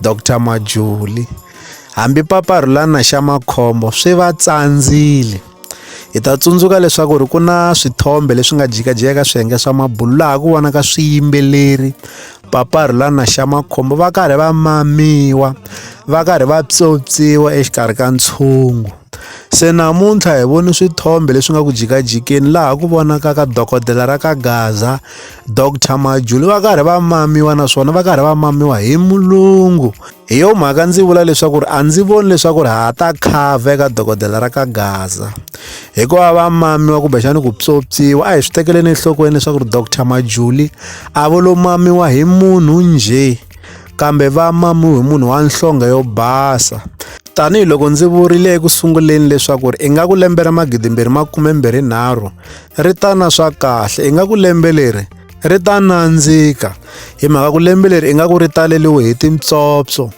Dr Majuli, Hambi paparhulana xa makhombo swi va tsandzile. Hi ta tsundzuka leswaku ri ku na swithombe leswi nga jikajika swiyenge swa mabulo laha ku vonaka swiyimbeleri paparhulana xa makhombo va karhi va mamiwa va karhi va pyopyiwa exikarhi ka ntshungu. Se namuntlha hi vone swithombe leswi nga ku jikajikeni laha ku vonakaka dokodela ra ka Gaza. Doctor Majuli va karhi va mamiwa naswona va karhi va mamiwa hi mulungu hi yo mhaka ndzi vula leswaku ri a ndzi voni leswaku ri ha ta khava eka dokodela ra ka gaza hikuva va mamiwa kumbexani ku pyopyiwa a hi swi tekeleni enhlokweni leswaku ri doctor majuli a vo lo mamiwa hi munhu njhe kambe va mamiwe hi munhu wa nhlonge yo basa tanihiloko ndzi vurile eku sunguleni leswaku ri ingaku lembe ra magidimbirhi makumembirhinharhu ri ta na swa kahle ingaku lembe leri ri ta nandzika hi mhaka ku lembe leri ingaku ri taleliwe hi tintsopso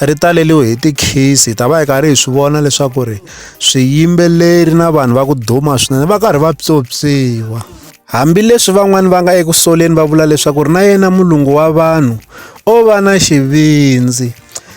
ri taleliwe hi tikhisi hi ta va hi karhi hi swi vona leswaku ri swiyimbeleri na vanhu va ku duma swinene va karhi va pyopyiwa hambileswi van'wani va nga eku soleni va vula leswaku ri na yena mulungu wa vanhu o va na xivindzi